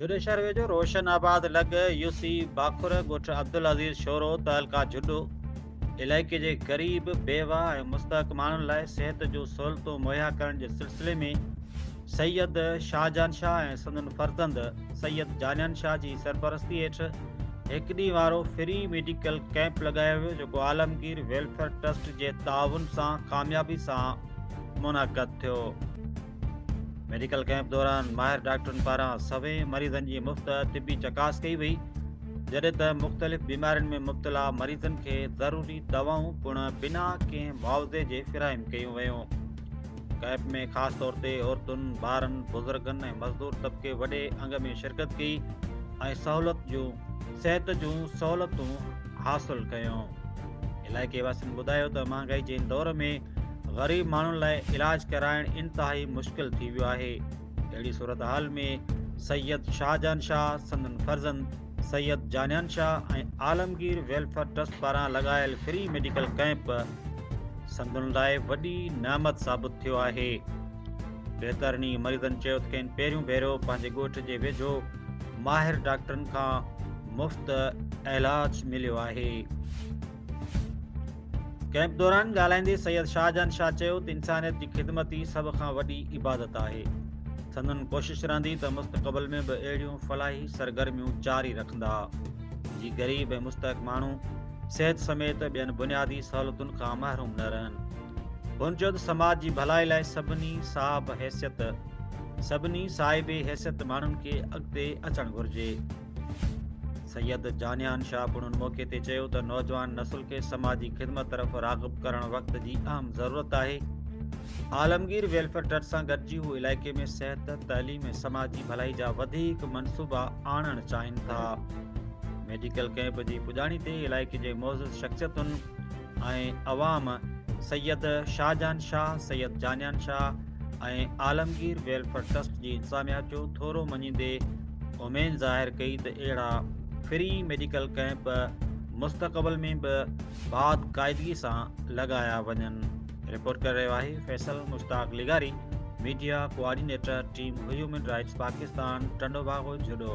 جھڏو شھر ويجھو روشن آباد لڳ يو سي باکر ڳوٺ عبدالعزيز شورو تعلقه جھڏو علائقي جي غريب بيواھ ۽ مستحق ماڻھن لاء صحت جون سھولتون مھيا ڪرڻ جي سلسلي ۾ سيد شاھجھان شاھ ۽ سندن فرزند سيد جانيان شاھ جي سرپرستي ھيٺ ھڪ ڏينھن وارو فري ميڊيڪل ڪئمپ لڳايو ويو جيڪو عالمگير ويلفيئر ٽرسٽ جي تعاون سان ڪاميابي سان منعقد ٿيو. ميڊيڪل ڪئمپ دوران ماهر ڊاڪٽرن پاران سوين مريضن جي مفت طبي چڪاس ڪئي وئي جڏهن ته مختلف بيمارين ۾ مبتلا مريضن کي ضروري دوائون پڻ بنا ڪنهن معاوضي جي فراهم ڪيون ويون ڪئمپ ۾ خاص طور تي عورتن ٻارن بزرگن ۽ مزدور طبقي وڏي انگ ۾ شرڪت ڪئي ۽ سهولت جون صحت جون سهولتون حاصل ڪيون علائقي واسين ٻڌايو ته مهانگائي جي دور ۾ غريب ماڻهن لاء علاج ڪرائڻ انتهائي مشڪل ٿي ويو آهي اهڙي صورتحال ۾ سيد شاهجهان شاهه سندن فرزند سيد جانيان شاهه ۽ عالمگير ويلفيئر ٽرسٽ پاران لڳايل فري ميڊيڪل ڪئمپ سندن لاء وڏي نعمت ثابت ٿيو آهي بهترني مريضن چيو ته کين پهريون ڀيرو پنهنجي ڳوٺ جي ويجهو ماهر ڊاڪٽرن کان مفت علاج مليو آهي ڪئمپ دوران ڳالهائيندي سيد شاهجهان شاهه چيو ته انسانيت جي خدمت ئي سڀ کان وڏي عبادت آهي سندن ڪوشش رهندي ته مستقبل ۾ به اهڙيون فلاحي سرگرميون جاري رکندا جي غريب ۽ مستحق ماڻهو صحت سميت ٻين بنيادي سهولتن کان محروم نه رهن هن چيو ته سماج جي ڀلائي لاء سڀني صاحب حيثيت سڀني صاحب حيثيت ماڻهن کي اڳتي اچڻ گهرجي سيد جانيان شاهه پڻ ان موقعي تي چيو ته نوجوان نسل کي سماجي خدمت طرف راغب ڪرڻ وقت جي اهم ضرورت آهي عالمگير ويلفيئر ٽرسٽ سان گڏجي هو علائقي ۾ صحت تعليم ۽ سماجي ڀلائي جا وڌيڪ منصوبا آڻڻ چاهين ٿا ميڊيڪل ڪئمپ جي پڄاڻي تي علائقي جي معزز شخصيتن ۽ عوام سيد شاهجهان شاهه، سيد جانيان شاهه ۽ عالمگير ويلفيئر ٽرسٽ جي انتظاميا جو ٿورو مڃيندي اميد ظاهر ڪئي ته اهڙا فري ميڊيڪل ڪئمپ مستقبل ۾ به باضقاعدگي سان لڳايا وڃن. رپورٽ ڪري رهيو آهي فيصل مشتاق لغاري، media coordinator team human rights Pakistan Tando Bago Jhuddo.